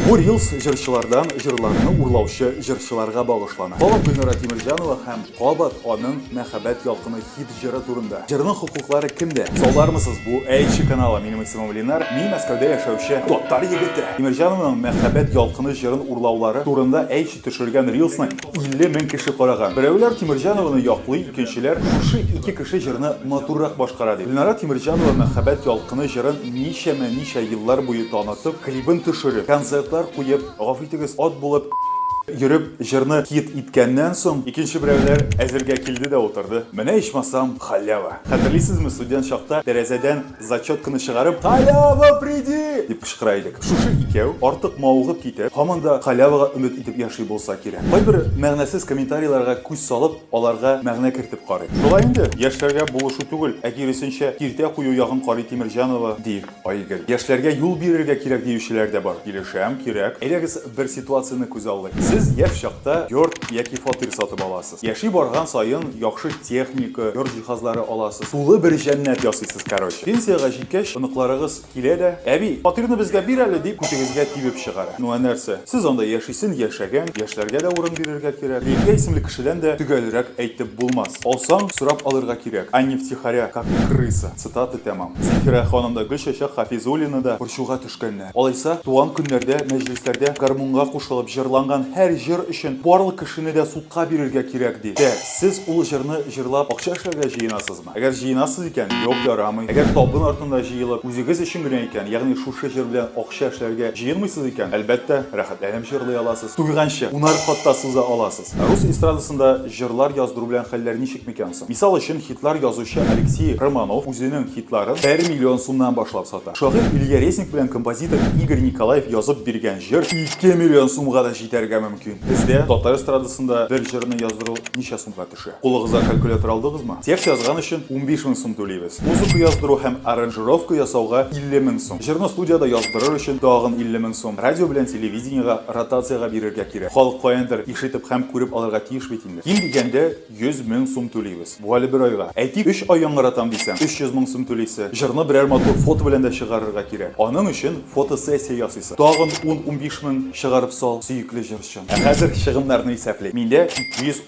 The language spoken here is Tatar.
Бу рилс җырчылардан җырларны урлаучы җырчыларга багышлана. Кабат Гөлнара Тимерҗанова һәм кабат аның Мәхәббәт ялкыны хит җыры турында. Җырның хокуклары кемдә? Салдармысыз бу Әйче каналы, минем исемем Ленар, мин Мәскәүдә яшәүче татар егете. Тимерҗанованың Мәхәббәт ялкыны җырын урлаулары турында Әйч Төшергән рилсны 50 мең кеше караган. Берәүләр Тимерҗанованы яклый, икенчеләр шушы ике кеше җырны матуррак башкара ди. Гөлнара Тимерҗанова Мәхәббәт ялкыны җырын ничәмә ничә еллар буе танытып, клибын төшереп, концертлар куеп, гафу итегез, ат булып йөреп җырны хит иткәннән соң, икенче берәүләр әзергә килде дә утырды. Менә ичмасам халява! Хәтерлисезме, студент чакта тәрәзәдән Зачетканы чыгарып, Халява приди! дип кычкыра идек. Шушы икәү, артык мавыгып китеп, һаман да халявага өмет итеп яши булса кирәк. Кайбер мәгънәсез комментарийларга күз салып, аларга мәгънә кертеп карыйм. Шулай инде, яшьләргә булышу түгел, ә киресенчә, киртә кую ягын карый Тимерҗанова, ди Айгөл. Яшьләргә юл бирергә кирәк диючеләр дә бар. Килешәм, кирәк. Әйдәгез, бер ситуацияне күзаллыйк. Сез яшь чакта йорт яки фатир сатып аласыз. Яши барган саен яхшы техника, йорт җиһазлары аласыз, тулы бер җәннәт ясыйсыз, короче. Пенсиягә җиткәч, оныкларыгыз килә дә, Әби, фатирны безгә бир әле, дип күтегезгә тибеп чыгара. Ну, ә нәрсә? Сез анда яшисен яшәгән, яшьләргә дә урын бирергә кирәк. Лилия исемле кешедән дә төгәлрәк әйтеп булмас. Алсаң, сорап алырга кирәк, а не втихаря, как крыса. Цитата тәмам. Зифирә ханым да, Гөлчәчәк Хафизуллина да борчуга төшә. төшкәннәр. Алайса, туган көннәрдә, мәҗлесләрдә гармунга кушылып җырланган һәр җыр өчен барлык кешене дә судка бирергә кирәк ди. Тә, сез ул җырны җырлап акча эшләргә җыенасызмы? Әгәр җыенасыз икән, юк, ярамый. Әгәр табын артында җыелып, үзегез өчен генә икән, ягъни шушы җыр белән акча эшләргә җыенмыйсыз икән, әлбәттә, рәхәтләнеп җырлый аласыз. Туйганчы, унар кат та суза аласыз. бит. Рус эстрадасында җырлар яздыру белән хәлләр ничек микән соң? Мисал өчен, хитлар язучы Алексей Романов үзенең хитларын бер миллион сумнан башлап сата. Шагыйрь Илья Резник белән композитор Игорь Николаев язып биргән җыр ике миллион сумга да җитәргә мөмкин. Бездә татар эстрадасында бер җырны яздыру ничә сумга төшә? Кулыгызга калькулятор алдыгызмы? Текст язган өчен 15 мең сум түлибез. Музыка яздыру һәм аранжировка ясауга 50 мең сум. Җырны студиядә яздырыр өчен тагын 50 мең сум. Радио белән телевидениегә ротациягә бирергә кирәк. Халык каяндыр ишетеп һәм күреп алырга тиеш бит инде. Ким дигәндә 100 мең сум түлибез. Бу әле бер айга. Әйтик, өч ай яңгыратам дисәң, 300 мең сум түлисе. Җырны берәр матур фото белән дә чыгарырга кирәк. Аның өчен фотосессия ясыйсы. Тагын ун-унбиш мең чыгарып сал, сөекле җырчым. Ә хәзер чыгымнарны исәплик. Миндә 200